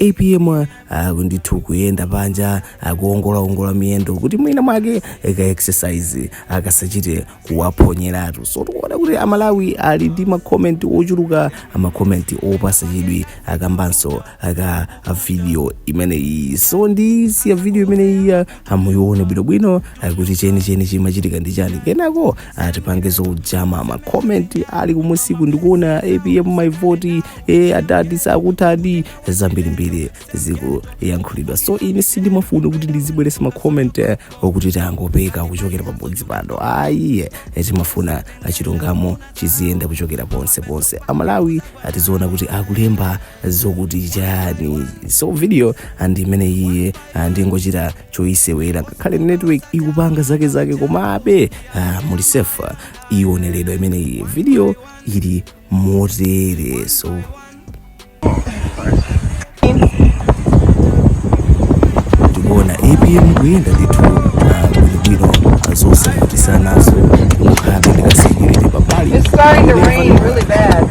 apm ali ndithu kuyenda panja kuongolaongola miyendo kuti mwina mwake ka exercise akasachite kuwaphonyeratu so tikuona kuti amalawi ali ndi makomenti ochuluka makomenti opasa chidwi okambanso za video imeneyi so ndisiya video imeneyi muyione bwinobwino ah, kuti chenicheni chimachitika ndi chani kenako tipange zoonamo makomenti ali kumusiku tikuona apm my vote eh, adadi sakutha zambirimbiri zikuyankhulidwa so ine sindimafuna kuti ndizibweretsa makomenti eh, akuti tangopeka kuchokera pabodzi pano ayi eh, timafuna ah, chilungamo chiziyenda kuchokera ponse ponse amalawi tiziona kuti akulemba zokuti chani so video ndi imeneyi ah, ndingochita choyisewera ngakhale network ikupanga zake zake komabe ah, muli safe iwoneredwa imene iyi video ili motere so tikuona apm kuyenda ndithu ah, bwinobwino ah, zonse zosautsazo kukhala ndikasekerete pambali It's starting to rain really bad.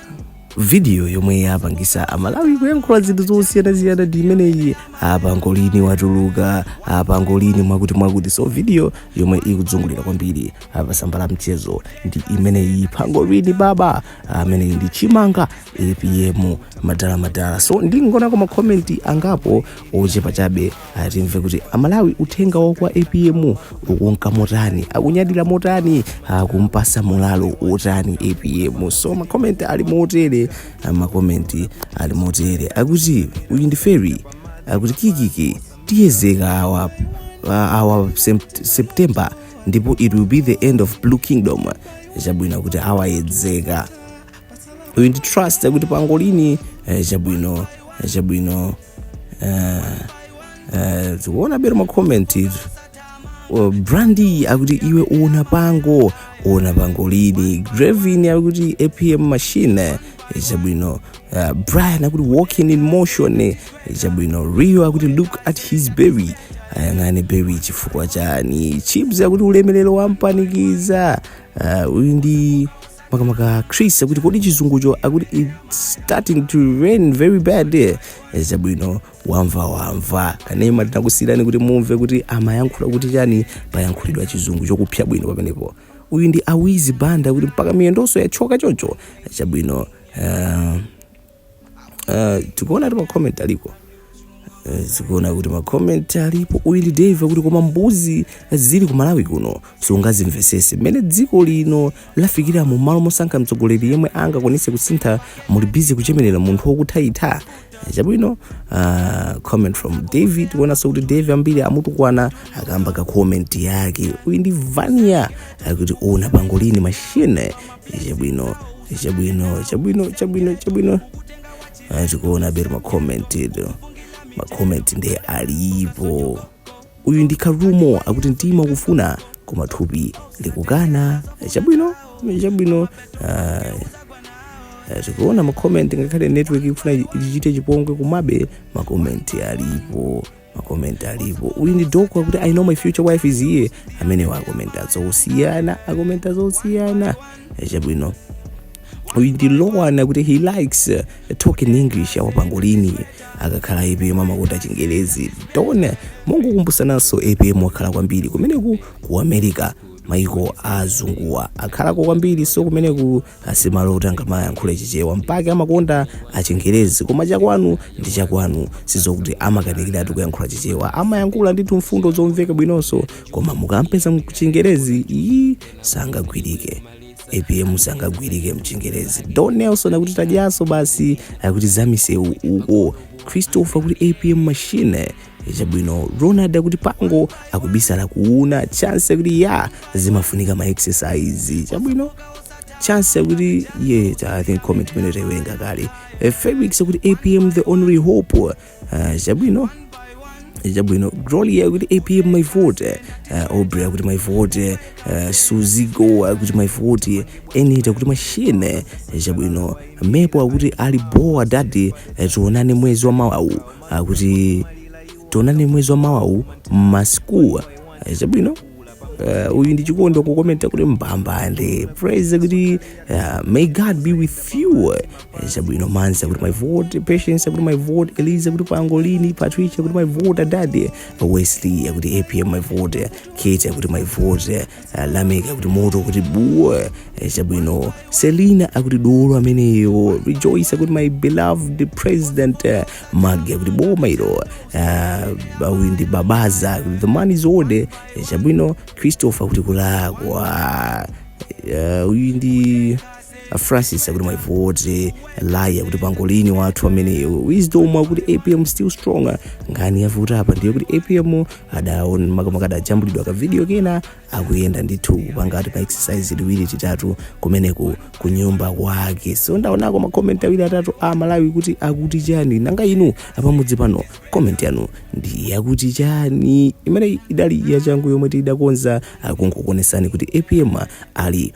vidiyo yomwe yapangisa amalawi kuyankhula zinthu zosiyanasiyana ndi imeneyi pangolini watuluka pangolini mwakuti mwakuti so vidiyo yomwe ikuzungulira kwambiri pa tsamba la mchezo ndi imeneyi pangolini baba ameneyi ndi chimanga apm madala madala so ndingonako makomenti angapo ochepa chabe Aya, timve kuti amalawi uthenga wawo kwa apm ukunka motani akunyadira motani akumpasa moralo otani apm so makomenti ali motere ah, makomenti ali motere akuti uyu ndi feri akuti kikiki tiyedzeka awa ah, awa sept- september ndipo it will be the end of blue kingdom chabwino akuti awayedzeka uyu ndi trust akuti pangolini eh, chabwino eh, chabwino mukuona bwino makomenti izo Oh, brandi akuti iwe uona pango uona pangolini grevin akuti apm machine chabwino uh, brian akuti walking in motion chabwino rio akuti look at his belly ayang'ane belly chifukwa chani chips akuti ulemelero wampanikiza uh, uyu ndi makamaka chris akuti kodi chizungucho akuti its starting to rain very bad there chabwino wamva wamva kanema tinakusiyirani kuti mumve kuti amayankhula kuti chani payankhulidwa chizungu chokupsa bwino pamenepo uyu ndi awizi banda akuti mpaka miyendonso yathyoka choncho chabwino uh, uh, tikuona kuti macomment aliko Eh, tikuona kuti macomment alipo uyu ndi dave akuti koma mbuzi zili ku malawi kuno sungazimvesese mmene dziko lino lafikira mu malo mosankha mtsogoleri yemwe angakwanise kusintha muli bizi kuchemerera munthu wokutha itha Eh, chabwino ah, comment from david kuonanso kuti dave ambiri amutukwana kamba ka comment yake uyu ndi vania akuti una pangolini machine chabwino chabwino chabwino chabwino chabwino Ah, tikuona bero macomment edo macomment nde alipo uyu ndi karumo akuti mtima ukufuna koma thupi likukana chabwino chabwino ah, Eh, tikuona makomenti ngakhale network ikufuna ichite chipongwe komabe makomenti alipo makomenti alipo uyu ndi doko akuti i know my future wife is here amene akukomenta zosiyana akomenta zosiyana chabwino uyu ndi lowan akuti he likes uh, talking english awa pangolini akakhala apm amakonda chingerezi tone mongokumbutsananso apm wakhala kwambiri kumeneko ku america maiko azunguwa akhalako kwambiri so kumeneko si malo oti angamayankhule chichewa mpake amakonda chingerezi koma chakwanu ndi chakwanu si zokuti amakanikiratu kuyankhula chichewa amayankhula ndithu mfundo zomveka bwinonso koma mukampeza mchingerezi iyi sangagwirike apm sangagwirike mchingerezi don nelson akuti tadyanso basi akuti zamisewu uko christopher akuti apm machine chabwino ronald akuti pango akubisala kuuna chance akuti ya zimafunika ma exercise chabwino chance akuti ye ta- i think comment imene tayiwerenga kale Eh, felix akuti apm the only hope Ah, chabwino chabwino gloria akuti apm my vote uh, obri akuti my vote uh, suzigo akuti my vote enit akuti machine chabwino mepo akuti ali boa dadi eh, tionane mwezi wa mawawu akuti tionane mwezi wa mawawu masikuwa ayize bwino Uh, uyu ndi chikondi wakukomenta kuti mbambande praise kuti uh, may god be with you ayize bwino manzi akuti my vote patience akuti my vote eliza akuti pangolini patricia akuti my vote adadi wesley akuti apm my vote kate akuti my vote Lamek akuti moto kuti buwa eh, chabwino selina akuti dolo ameneyo rejoice akuti my beloved president eh, magi akuti boma ilo uh, uyu ndi babaza akuti the man is old eh, chabwino christopher akuti kulakwa Eh, uyu ndi a francis akuti my vote laya akuti pangolini wathu ameneyo wisdom akuti apm still stronger nkhani yavuta apa ndi yakuti apm adaon makamaka adajambulidwa ka video kena akuyenda ndithu kupanga ati ma exercise tiwiri titatu kumeneko ku nyumba kwake so ndaonako makomment awiri atatu a malawi kuti akuti chani nanga inu apamudzi pano comment yanu ndi yakuti chani imene idali yachangu yomwe tidakonza pakungokuonesani kuti apm ali